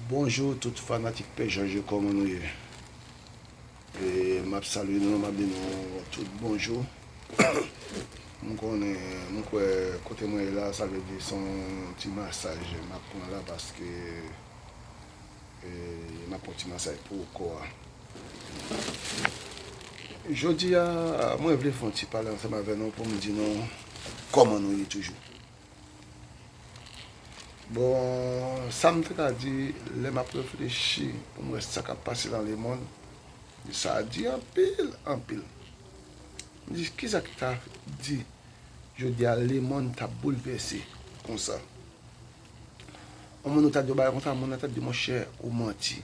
Bonjour tout fanatik pè jòj yo kòman nou ye map salye nou map di nou tout bonjou m konnen m kwè kote mwen ye la sa vle di son ti masaj map pran la paske map pran ti masaj pou kò a jodi a mwen vle fon ti pale ansanm avè nou poum di nou kòman nou ye toujou. Bon, sa m te ka di lè m ap reflechi pou m wè sa k ap pase nan lemonn, men sa di anpil, anpil. M di ki sa ki ka di jodi a lemonn ta boulvèse konsa. On moun ou ta di yon bagay konsa, moun nan ta di monchè ou manti.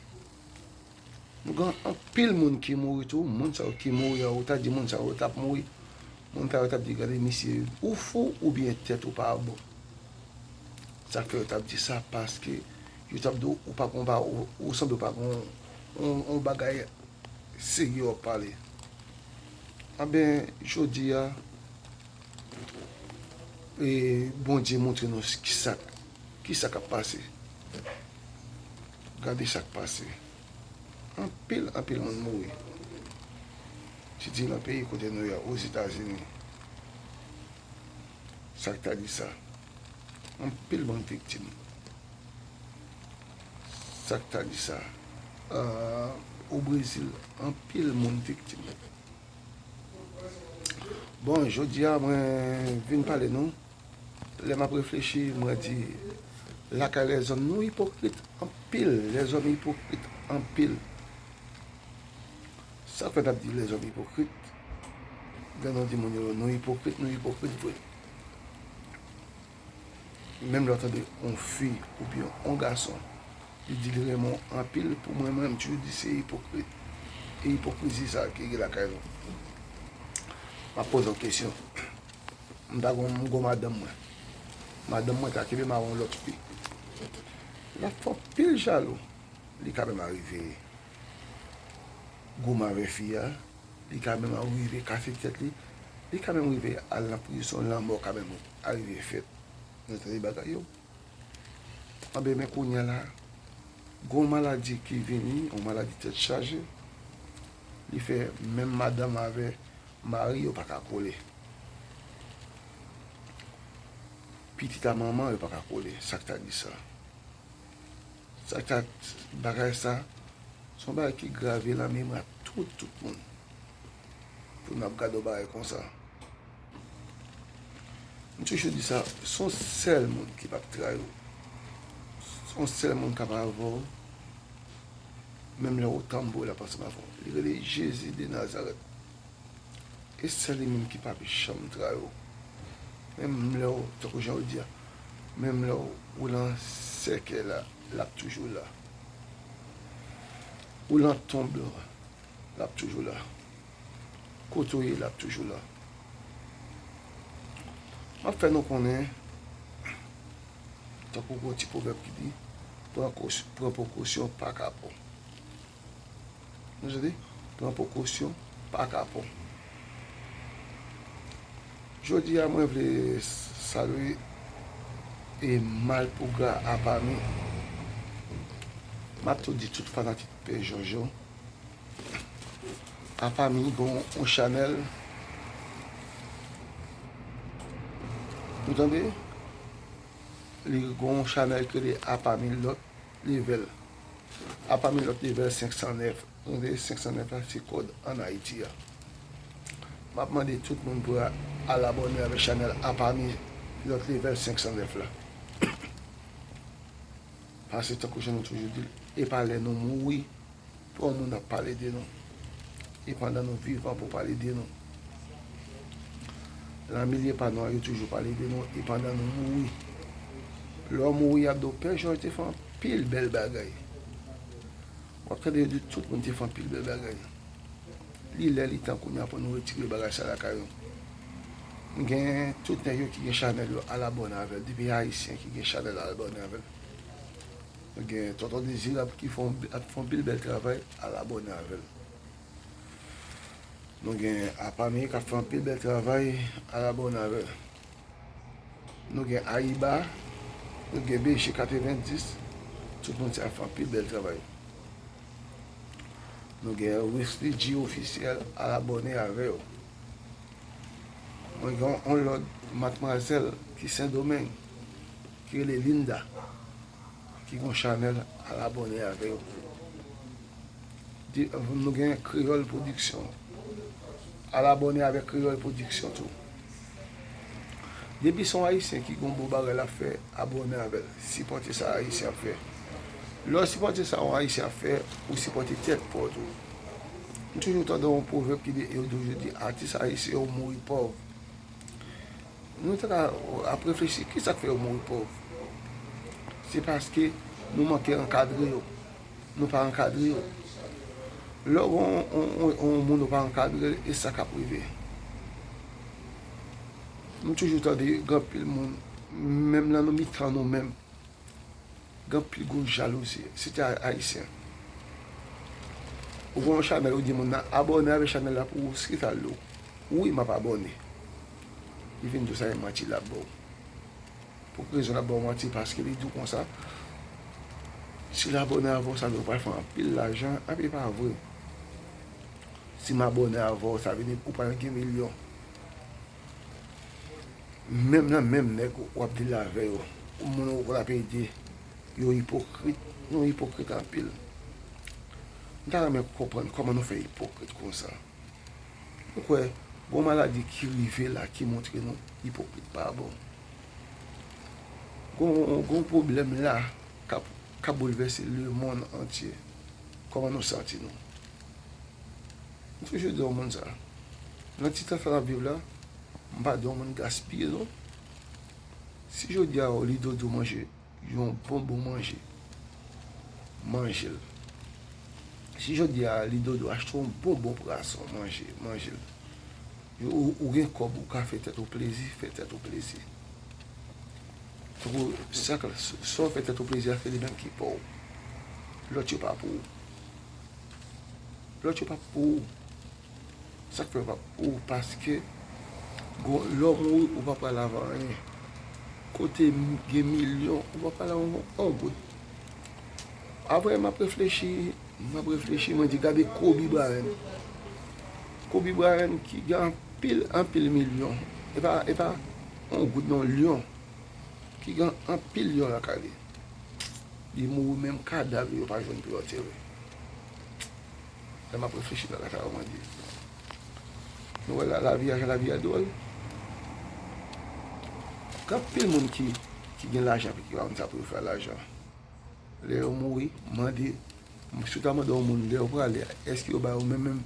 Nou gen anpil moun ki mouri tou, moun sa yo ki mouri an ou ta di moun sa yo tap mouri, moun sa yo tap di gade misye ou fou oubyen tèt ou pa bon. Sak fè yo tap di sa paske yo tap di ou pa gon pa ou sanble ou pa gon yon bagay serye wap pale. Anben jodi a Bondye montre nou kisa kisa kap pase. Gade sak pase anpil anpil moun mouri ti di nan peyi kote nou ya ozetazini sak ta di sa anpil moun viktim sak ta di sa o brezil anpil moun viktim bon jodia mwen vin pale nou. Lè map reflechi mwen di lakay lèzòm nou ipokrit anpil lèzòm ipokrit anpil sak fè nap di lèzòm ipokrit lè nou di moun yo nou ipokrit nou ipokrit vre menm lè ou tande yon fi oubyen yon gason li di li renmen w anpil pou mwen mwen toujou di se ipokrit e ipokrizi sa ki gen lakay nou map poze w kesyon. M ta konn m gou madanm mwen. Madanm mwen ka kenbe mawon lòt fi. Lap fè anpil jalou. Li ka menm arive goumen avè fi a. Li ka menm arive kase tèt li. Li ka menm arive al nan prizon. Lanmò ka menm arive fèt. Nou tande bagay yo. Anben men kounya la, gou maladi ki vini, yon maladi tèt chaje. Li fè menm madanm avè. Mari yo pa ka kole. Pitit a manman yo pa ka kole. Sa k ta di sa? Sa k ta. Bagay sa, se yon bagay ki grave lan memwa tout, tout moun. Pou n ap gade yon bagay kon sa. M toujou di sa, se yon sèl moun ki p ap trayi w. Se yon sèl moun k ap avè w, menm lè ou tanbou, l ap ansanm avè w. Li rele Jezi de Nazarèt. E sè li menm ki pap janm tra yo. Menm lè w, tankou jan yo di a, menm lè w lan sèkèy la, l ap toujou la. Ou lan tonb lan, l ap toujou la. Kote w ye, l ap toujou la. M ap fè nou konnen, tankou gon ti pwovèb ki di, pran prekosyon pa kapon. Nou santi? Pran prekosyon pa kapò. Jodi a mwen vle salye e malpougra a pami. Map tou di tout fanatik Pè Jòj yo. A pami gen yon chanèl. Nou tande? Li gen yon chanèl ki rele a pami lòt. Level a pami lòt level 509. Nou vle 509 la se kòd an Ayiti a. Map mande tout moun pou al abòne avèk chanèl a pami lòt level 509 la. Pase tankou jan nou toujou dil epa lè nou mouri Twò moun ap pale de nou. E pandan nou vivan pou pale de nou. Lan milye pa nou an yo toujou pale de nou. E pandan nou mouri. Lè w mouri y ap di w Pè Jòj te fè anpil bèl bagay. W ap tande yo di tout moun te fè anpil bèl bagay. Li lè li tan kounye a pou nou retire bagay sa lakay nou. M gen tout nèg yo ki gen chanèl yo alabòne avè l. Depi Ayisyen ki gen chanèl alabòne avè l. Nou gen tonton dezirab ki fon ap fon pil bèl travay al abòne avèl nou gen apami kap fon pil bèl travay al abòne avèl nou gen ayiba nou gen beje 90 tout moun sa yo fon pil bèl travay nou gen wesfidji ofisyèl al abòne avè yo mwen gen yon lòt matmwazèl ki sendomeng ki rele linda. ki gon chanèl al abòne avè yo pou nou di nou gen kreyòl pwodiksyon al abòne avè kreyòl pwodiksyon tou depi son ayisyen ki gon bon bagay lap fè abòne avèl sipòte sa ayisyen ap fè lèw sipòte sa yon ayisyen ap fè ou sipòte tèt paw tou m toujou tande yon pwovèb ki di yo toujou di atis ayisyen yo mouri pòv Nou ta ka ap reflechi, kisa k fè yo mouri pòv? Se paske nou manke ankadre yo. Nou pa ankadre yo. Lè w gen yon moun ou pa ankadre l, e sa k ap rive? M toujou tande gen anpil moun, menm nan mitan nou menm. Gen pi gwo jalouzi si te ayisyen ou vwe yon chanel ou di moun nan abòne avè chanel la pou ou skirt al do ou wi map abòne li vin diw sa e manti lap baw pou ki rezon lap baw manti paske li diw konsa sil abòne avèw sa vle di ou pral fè anpil lajan epi pa vre sim abòne avèw sa vle di ou pral gen milyon. Menm nan menm nèg wap deal avè yo moun ou pral ap ede yo ipokrit nou ipokrit anpil m ta renmen konprann kòman nou fè ipokrit konsa ou kwè gon maladi ki rive la ki montre nou ipokrit pa bon gon pwoblèm la kap boulvèse lemonn antye kòman nou santi nou M toujou di yon moun sa, nan ti tan sa n ap viv la, m pa di yon moun gaspiye non. Si jodi a ou li dodo manje yon bon bon manje, manje l. Si jodi a li dodo achte yon bon bon prason, manje, manje l. Ou gen kòb ou ka fè tèt ou plezi, fè tèt ou plezi. Tankou sa w fè tèt ou plezi a se li menm ki pa w, lòt yo pa pou ou. Lòt yo pa p pou ou. Sa k fè yo pa p pou ou? Paske gwo lò mouri, ou pa pral avè anyen. Kote gen milyon, ou pa pral avè yon goud. Apre m ap reflechi, m ap reflechi, mwen di gade Kobi Brayan. Kobi Brayan ki gen anpil, anpil milyon. E pa yon goud non, lyon. Ki gen anpil lyon lakay li. Li mouri menm kadav li yo pa jwenn pou yo antere. Lè map reflechi bagay sa yo mwen di nou wè lavi a jan lavi a dwòl. Gen anpil moun ki gen lajan epi ki pa konn sa pou yo fè a lajan. Lè yo mouri mande si w ta mande yon moun lè yo prale a èske yo ba ou menm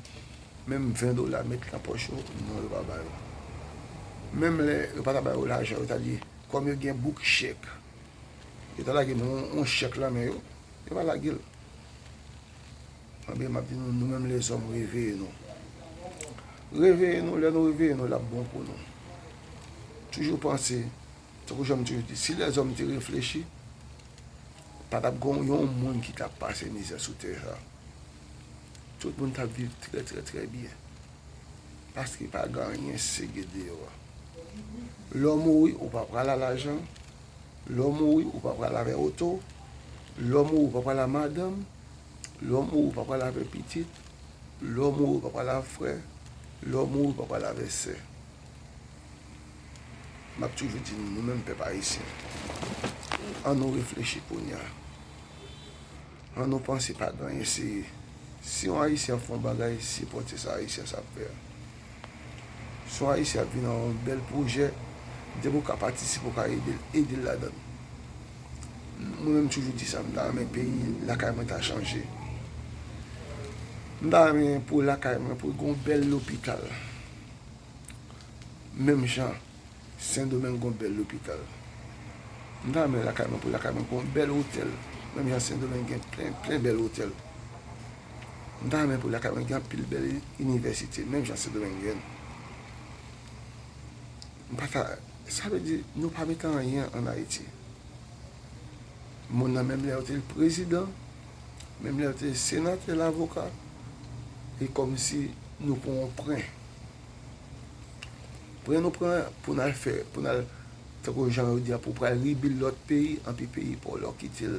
menm 20 dola met nan pòch yo non yo pa ba yo. Menm lè yo pa ta ba yo lajan yo ta di kòm yo gen bouk chèk. Yo ta lage nou yon chèk lan men yo, yo pa lage l. Mwen byen map di nou, nou menm lèzòm reveye nou. Reveye nou, lè nou reveye nou lap bon pou nou. Toujou panse, tankou janm toujou di, si lèzòm te reflechi, pa tap gon yon moun ki tap pase mizè sou tè sa. Tout moun tap viv trè trè trè byen. Paske pa gen anyen sege deyò a. Lè w mouri, ou pa pral a lajan. Lè w mouri, ou pa pral avè oto. Lè w mouri, ou pa pral a madanm. Lè w mouri, ou pa pral avè pitit. Lè w mouri, ou pa pral avè frè. Lè w mouri, ou pa pral avè sè. M ap toujou di nou, nou menm pèp ayisyen, an nou reflechi kounye a. An nou panse pa gen anyen seye. Si yon ayisyen ap fè yon bagay sipòte sa ayisyen sa ap fè a. Si yon ayisyen ap vin nan yon bèl pwojè depi ou ka patisipe ou ka edel edel ladan l. Mwen menm m toujou di sa m ta renmen peyi lakay mwen ta chanje. M ta renmen pou lakay mwen pou gon bèl lopital menm jan. Sendomeng gon bèl lopital. M ta renmen lakay mwen pou lakay mwen gon bèl otèl menm jan sendomeng gen plen plen bèl otèl. M ta renmen pou lakay mwen gen anpil bèl inivèsite menm jan sendomeng gen. M pa ta sa vle di nou pa mete anyen an ayiti. Moun nan menm lè yo te prezidan, menm lè yo te senatè lavoka e kòmsi nou pran yon pren. Pran nou pran pou n al fè, pou n al tankou jan yo di a pou pral rebuild lòt peyi, anpi peyi pa w la ou kite l,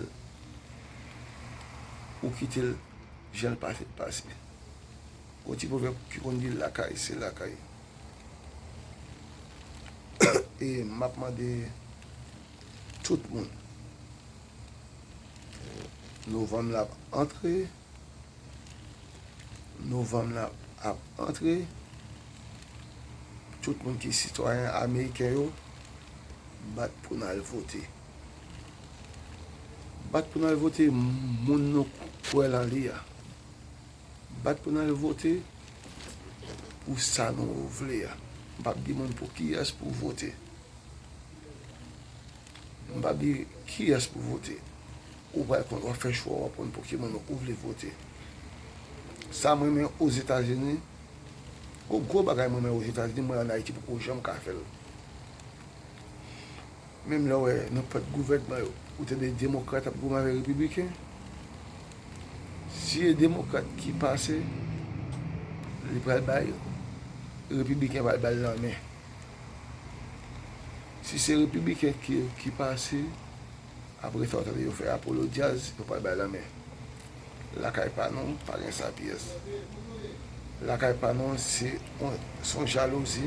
ou kite l jan l pase pase. Gon ti pwovèb ki konn di lakay se lakay. E m ap mande tout moun, novanm la ap antre. Novanm nan ap antre, tout moun ki sitwayen ameriken yo, bat pou n al vote. Bat pou n al vote moun nou kwè lan li a. Bat pou n al vote pou sa nou vle a. M pa p di moun pou kiyès pou vote. M pa p di kiyès pou vote. Ou pral konn wap fè chwa w wap konn pou ki moun ou vle vote. Sam renmen ozetazini Yon gwo bagay mwen renmen ozetazini mwen an ayiti poko janm ka fèl menm lèw wè nan pwòt gouvènman yo ou tande demokrat ap goumen avèk repibliken si e demokrat ki pase li pral bay repibliken pral bal nan men si se repibliken ki pase Apre sa ou tande yo fè Apollo Jazz yo pral bay lanmen Lakay pa nou pa gen sa pyès Lakay pa nou se yon jalouzi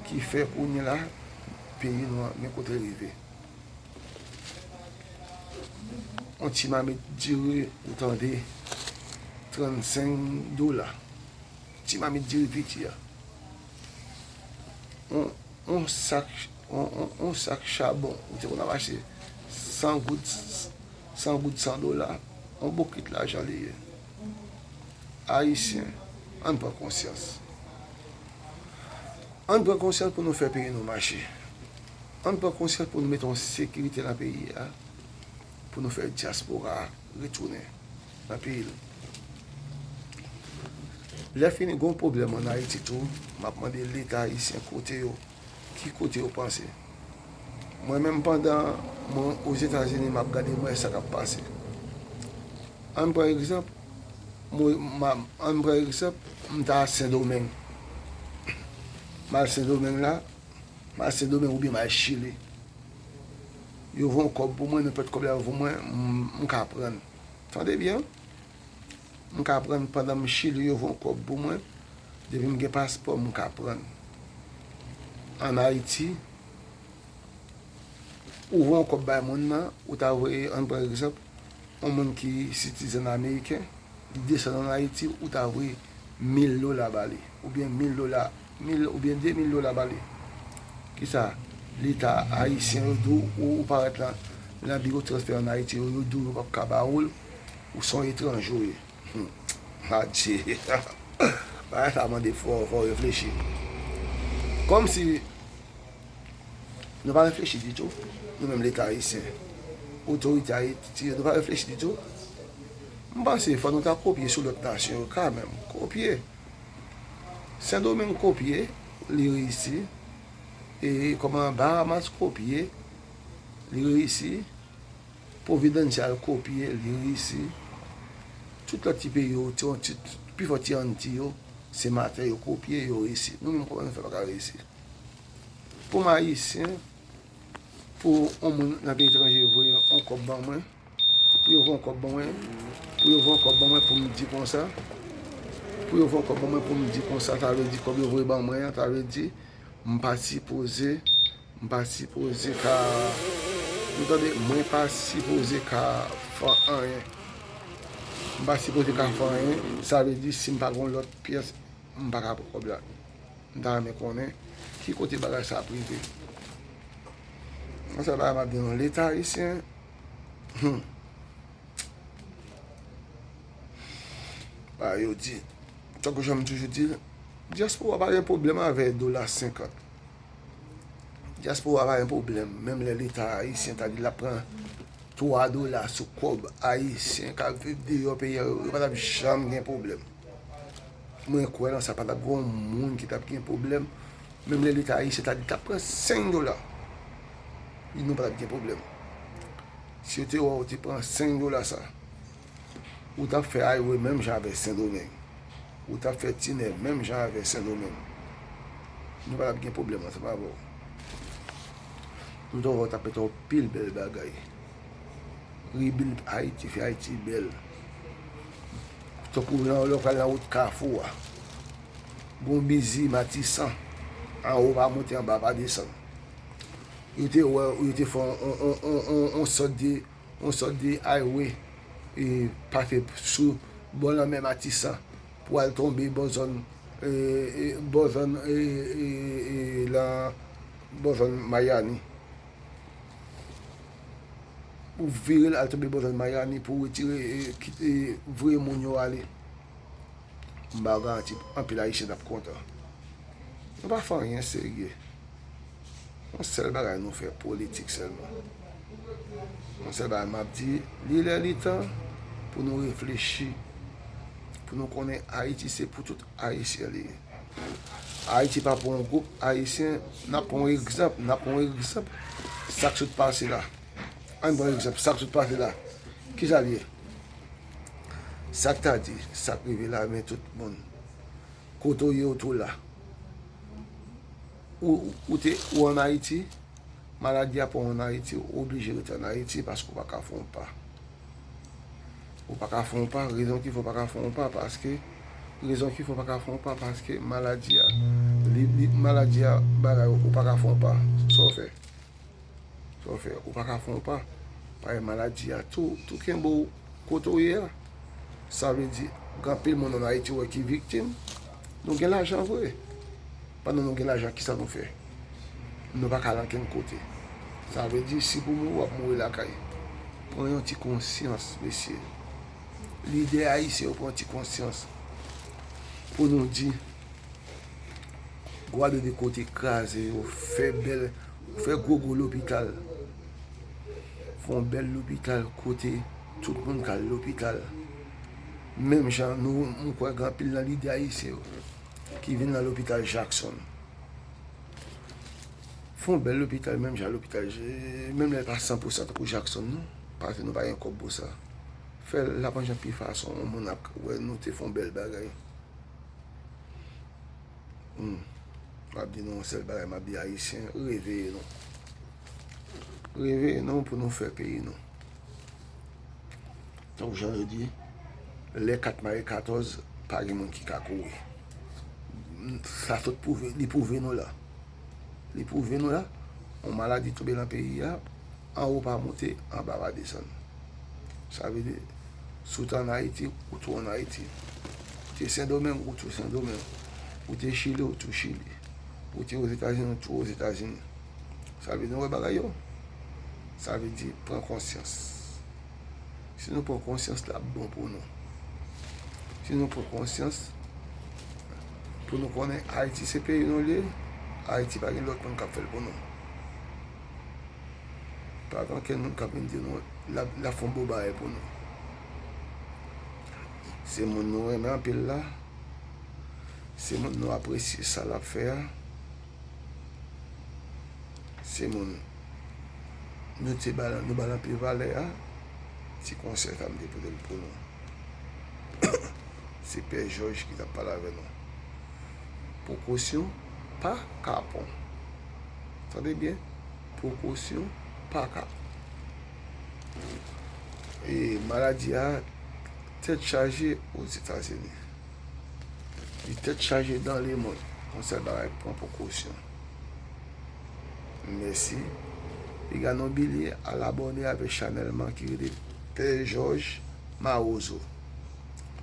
ki fè kounye la peyi nou an gen kote l rive Yon ti mamit diri ou tande 35 dola ti mamit diri piti a. yon sak chabon, m te konn ap achte 100 goud, 100 goud 100 dola, yon bokit lajan li ye. Ayisyen, ann pran konsyans. Ann pran konsyans pou nou fè peyi nou mache. Ann pran konsyans pou nou mete yon sekirite nan peyi a, pou nou fè dyaspora retounen. Anpil. Lè fini gon pwoblèm an Ayiti tou, m ap mande Leta ayisyen kote yo, ki kote yo panse. Mwen menm pandan mwen Ozetazini m ap gade mwen sa k ap pase. An n pran egzanp, an n pran egzanp m ta Sendomeng. M al Sendomeng la, m al Sendomeng oubyen m al Chili. Yo voye yon kòb pou mwen, nenpòt kòb la yo voye mwen, m ka pran. Tande byen, m ka pran pandan m Chili yo von kòb pou mwen, depi m gen paspò m ka pran. An Ayiti, ou von kòb bay moun nan, ou ta voye, an pran egzanp, yon moun ki sitizèn ameriken, li desann an Ayiti, ou ta voye mil dola ba li, oubyen mil dola. Mil oubyen de mil dola bale. Kisa leta ayisyen yo di w ou parèt nan biwo transfè an Ayiti yo, yo di w yo pap ka ba ou l, ou se yon etranje w ye. Humm adje bagay sa mande fò fò reflechi. Kòmsi nou pa reflechi ditou nou menm leta ayisyen, otorite Ayiti yo nou pa reflechi ditou. M panse fò nou ta kopye sou lòt nasyon yo kanmenm, kopye. Sendomeng kopye, li reyisi. E kòman Bahamas kopye, li reyisi. Providencial kopye, li reyisi. Tout lòt ti peyi yo, pi fò ti Anti yo, se mafya yo kopye, yo reyisi. Nou menm kòman nou fè pa ka reyisi? Pou m Ayisyen, pou on moun nan peyi etranje voye on kòb ban mwen. Pou yo von kòb ban mwen Pou yo von kòb ban mwen poum di konsa Pou yo von kòb ban mwen poum di konsa sa vle di kòb yo voye ban mwen an sa vle di m pa sipoze m pa sipoze ka nou tande mwen pa sipoze ka fè anyen m pa sipoze ka fè anyen sa vle di sim pa gon lòt pyès m pa ka pran kòb la m ta renmen konnen ki kote bagay sa ap rive m se bagay map di nou leta ayisyen Ba yo di, tankou jan m toujou di l, dyaspora pa gen pwoblèm avè dola senkant. Dyaspora pa gen pwoblèm, menm lè leta ayisyen ta di l ap pran twa dola sou kòb ayisyen k ap viv deyò peyi a, yo pa t ap janm gen pwoblèm. Mwen kwè nan sa, pa t ap gen yon moun ki t ap gen pwoblèm. Menm lè leta ayisyen ta di tap pran 5 dola li nou patap gen pwoblèm si yo te wè ou te pran 5 dola sa ou tap fè aywe menm jan avè sendomeng ou tap fè tinè menm jan avè sendomeng nou patap gen pwoblèm ansanm avè ou nou ta wè ou tap fè yon pil bèl bagay rebuild ayiti fè ayiti bèl tankou lè ou pral nan wout kafou a. Bon bizi matisan an ou pa monte anba pa desann yo te wè yo te fè yon sòt de yon sòt de highway e pa fè sou bò lanmè matisan pou al tonbe bò zòn bò zòn lan bò zòn mayani pou vire al tonbe bò zòn mayani pou retire kite voye moun yo ale. M ba w garanti anpil Ayisyen t ap kontan. Nou pa fè anyen serye. Yon sèl bagay nou fè, politik sèlman. Yon sèl bagay m ap di, li lè li tan pou nou reflechi, pou nou konnen Ayiti se pou tout Ayisyen li ye. Ayiti pa pou yon gwoup Ayisyen. N ap pran yon egzanp, n ap pran yon egzanp sa k sot pase la. Ann pran egzanp sa k sot pase la. Ki sa l ye? Sak ta di sak rive la men tout moun kote w ye w tou la ou te ou an ayiti maladi a pran w an ayiti ou oblije rete an ayiti paske ou pa ka fon w pa ou pa ka fon w pa rezon ki fè w pa ka fon w pa paske rezon ki fè w pa ka fon w pa paske maladi a li maladi a bagay ou pa ka fon w pa sa w fè Sa w fè? Ou pa ka fè yon pa? Paske maladi a tou kenbe w kote w ye a. Sa vle di, gen anpil moun ann Ayiti ou wè ki viktim. Nou gen lajan vre. Pandan nou gen lajan, ki sa nou fè? Nou pa ka al ankenn kote. Sa vle di, si pou mouri, w ap mouri lakay. Pran yon ti konsyans, mesye. Lidè ayisyen yo pran yon ti konsyans pou nou di. Gwado de kote kraze yo fè bèl fè gwo gwo lopital fon bèl lopital kote tout moun kal lopital menm jan nou mwen kwè gen anpil nan lidè ayisyen yo ki vin nan lopital Jaksonn fon bèl lopital menm jan lopital menm lè l pa san pou san tankou Jaksonn non paske nou pa gen kòb pou sa fè l la manjan pi fason moun ap wè nou te fon bèl bagay. Humm, map di nou yon sèl bagay, map di ayisyen, reveye nou. Reveye nou pou nou fè peyi nou. Donk jan yo di, lè kat mare katòz, pa gen moun ki ka kouri. Sa tout pwouve, li pwouve nou la. Li pwouve nou la, yon maladi toube nan peyi a, Anwo pa monte, anba pa desann. Sa vle di, si w te an Ayiti, ou tou an Ayiti. Ou te Sendomeng, ou tou Sendomeng. Ou te Chili, ou tou Chili. Ou te Ozetazini, ou tou Ozetazini. Sa vle di, nou wè bagay yo? Sa vle di, pran konsyans. Si nou pran konsyans, l ap bon pou nou. Si nou pran konsyans, pou nou konnen Ayiti se peyi nou li ye, Ayiti pa gen lòt moun k ap fè l pou nou. Pa gen okenn moun k ap vin di nou l ap fè yon bon bagay pou nou. Se moun nou renmen anpil la, se moun nou apresye sa l ap fè a, se moun nou te ba l anpil valè a, se konsèy sa m te pote pou nou. Se pè Jòj ki t ap pale avè nou. Prekosyon. pa kapon. Tande byen, prekosyon pa kapon. E maladi a tèt chaje o Zetazini. Li tèt chaje dan le mond. Konsèy bagay pran prekosyon. Mèsi. Piga non bilye al abòne avèk chanèl man ki rele Pè Jòj Mawozo.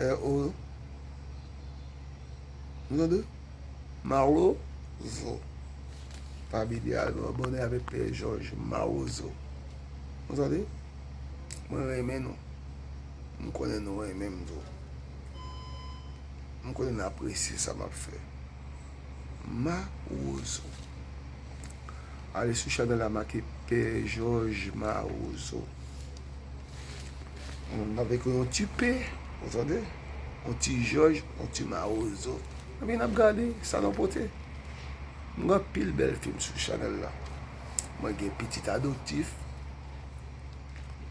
RO Nou tande? Maro zo Pa bidye al nou abòne avèk pè jòj mawozo Nou tande Mwen renmen nou M konnen nou renmen m tou M konnen n apresye sa m ap fè Mawozo Ale sou chanèl la make pè jòj mawozo. M ap ekri yon ti P, ou tande, yon ti jòj, yon ti mawozo. Epi n ap gade sa nou pote. M gen anpil bèl fim sou chanèl la. Mwen gen Pitit Adoptif.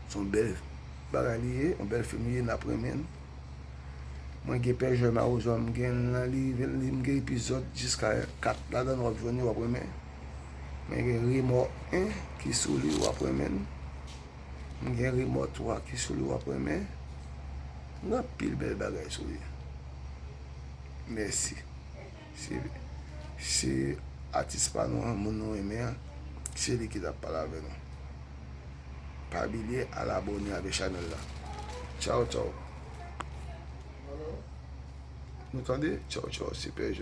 Se yon bèl bagay li ye, yon bèl fim li ye, n ap renmen l. Mwen gen Pè Jòj Mawozo a, m gen l nan live m, m gen epizòd jiska kat ladan l, w ap jwenn yo, w ap renmen. Mwen gen Remò 1 ki sou li, w ap renmen l. M gen remò 3 ki sou li w ap renmen. M gen anpil bèl bagay sou li. Mèsi. Se atis pa nou an, moun nou renmen an, se li ki t ap pale avè nou. Pa bilye al abòne avè chanèl la. Tchaw tchaw. Nou tande? Tchaw tchaw. Se pè Jòj.